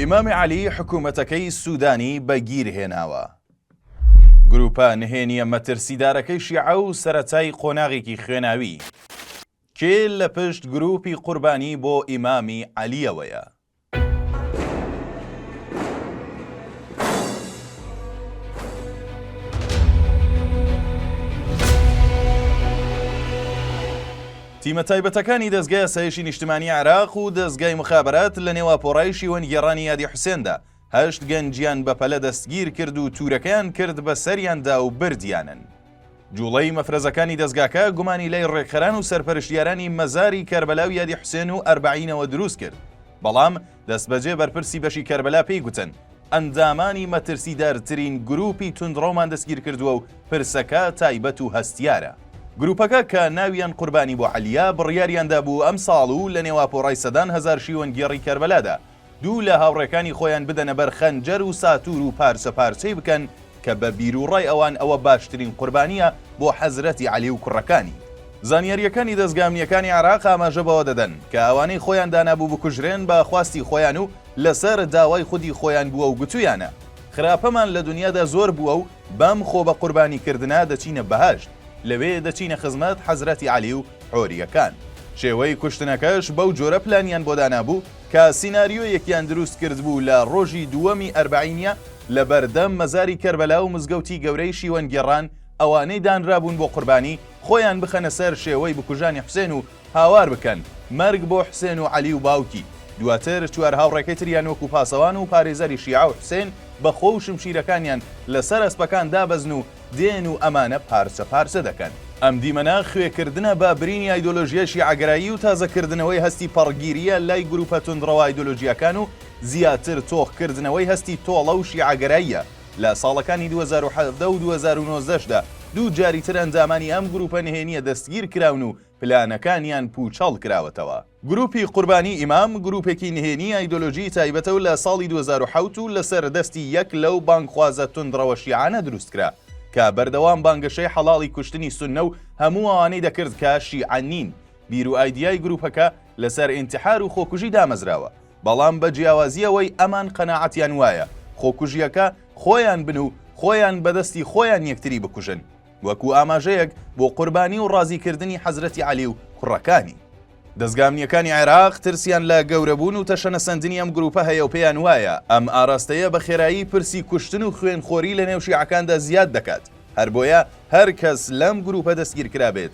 ئیمام عەلی حکوومەتەکەی سوودانی بە گیر هێناوە. گرووپە نهێنییە مەترسیدارەکەی شیعە و سەرەتای قۆناغێکی خوێناوی. کێ لە پشت گرووپی قوربانی بۆ ئیمامی عەلییەوەیە؟ تیمە تایبەتەکانی دەزگای ئاسایشی نیشتمانی عێراق و دەزگای مخابرات لە نێو ئاپۆرای شیوەن گێڕانی یادی حوسێندا هەشت گەنجیان بە پەلە دەستگیر کرد و تورەکەیان کرد بە سەریاندا و بردیانن جوڵەی مەفرەزەکانی دەزگاکە گومانی لای ڕێکخەران و سەرپەرشتیارانی مەزاری کەربەلا و یادی حوسێن و ئەربەعینەوە دروست کرد بەڵام دەستبەجێ بەرپرسی بەشی کەربەلا پێی گوتن، ئەندامانی مەترسیدارترین گرووپی توندڕەومان دەستگیرکردووە و پرسەکە تایبەت و هەستیارە. گرووپەکە کە ناویان قوربانی بۆعەلییە، بڕیاریان دابوو ئەمساڵ و لە نێواپۆڕای سەدان هەزار شیوەنگێڕی کەربەلادا، دوو لە هاوڕێکانی خۆیان بدەنە بەر خەنجەر و ساتوور و پارچەپارچەی بکەن کە بە بیروڕای ئەوان ئەوە باشترین قوربانییە بۆ حەزرەتی عەلی و کوڕەکانی. زانیارییەکانی دەزگا ئەمنییەکانی عێراق ئاماژە بەوە دەدەن، کە ئەوانەی خۆیان دانابوو بکوژرێن بە خواستی خۆیان و لەسەر داوای خودی خۆیان بووە و گوتوویانە، خراپەمان لە دونیادا زۆر بووە و بەم خۆ بە قوربانی کردنە دەچینە بەهەشت، لەوێ دەچینە خزمەت حەزرەتی عەلی و حۆرییەکان. شێوەی کوشتنەکەش بەو جۆرە پلانیان بۆ دانابوو، کە سیناریۆیەکیان دروست کردبوو لە ڕۆژی دووەمی ئەربەعینیا لە بەردەم مەزاری کەربەلا و مزگەوتی گەورەی شیوەنگێڕان ئەوانەی دانرابوون بۆ قوربانی خۆیان بخەنە سەر شێوەی بکوژانی حوسێن و هاوار بکەن مەرگ بۆ حوسێن و عەلی و باوکی دواتر چوار هاوڕێکەی تریان وەکو پاسەوان و پارێزەری شیعە و حوسێن بە خۆ و شمشیرەکانیان لەسەر ئەسپەکان دابەزن و دێن و ئەمانە پارچە پارچە دەکەن. ئەم دیمەنە خوێکردنە بە برینی ئایدۆلۆژیای شیعەگەرایی و تازەکردنەوەی هەستی پەڕگیرییە لای گرووپە توندڕەوە ئایدۆلۆژییەکان و زیاتر تۆخکردنەوەی هەستی تۆڵە و شیعەگەراییە لە ساڵەکانی دوو هەزار و حەڤدە و دوو هەزار و نۆزدە شدا دوو جاریتر ئەندامانی ئەم گرووپە نهێنییە دەستگیرکراون و پلانەکانیان پووچەڵکراوەتەوە. گروپی قوربانی ئیمام گروپێکی نهێنی ئایدۆلۆژی تایبەتە و لە ساڵی دوو هەزار و حەوت و لەسەر دەستی یەک لەو بانگخوازە توندڕەوە شیعانە دروست کرا کە بەردەوام بانگەشەی حەڵاڵی کوشتنی سوننە و هەموو ئەوانەی دەکرد کە شیعە نین بیر و ئایدیای گروپەکە لەسەر ئینتحار و خۆکوژی دامەزراوە بەڵام بە جیاوازی ئەوەی ئەمان قەناعەتیان وایە خۆکوژیەکە خۆیان بن و خۆیان بەدەستی خۆیان یەکتری بکوژن وەکو ئاماژەیەک بۆ قوربانی و ڕازیکردنی حەزرەتی عەلی و کوڕەکانی. دەزگا ئەمنییەکانی عێراق ترسیان لە گەورەبوون و تەشەنەسەندنی ئەم گرووپە هەیە و پێیان وایە ئەم ئاراستەیە بە خێرایی پرسی کوشتن و خوێنخۆری لەنێو شیعەکاندا زیاد دەکات، هەربۆیە هەرکەس لەم گرووپە دەستگیرکرابێت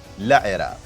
لە عێراق.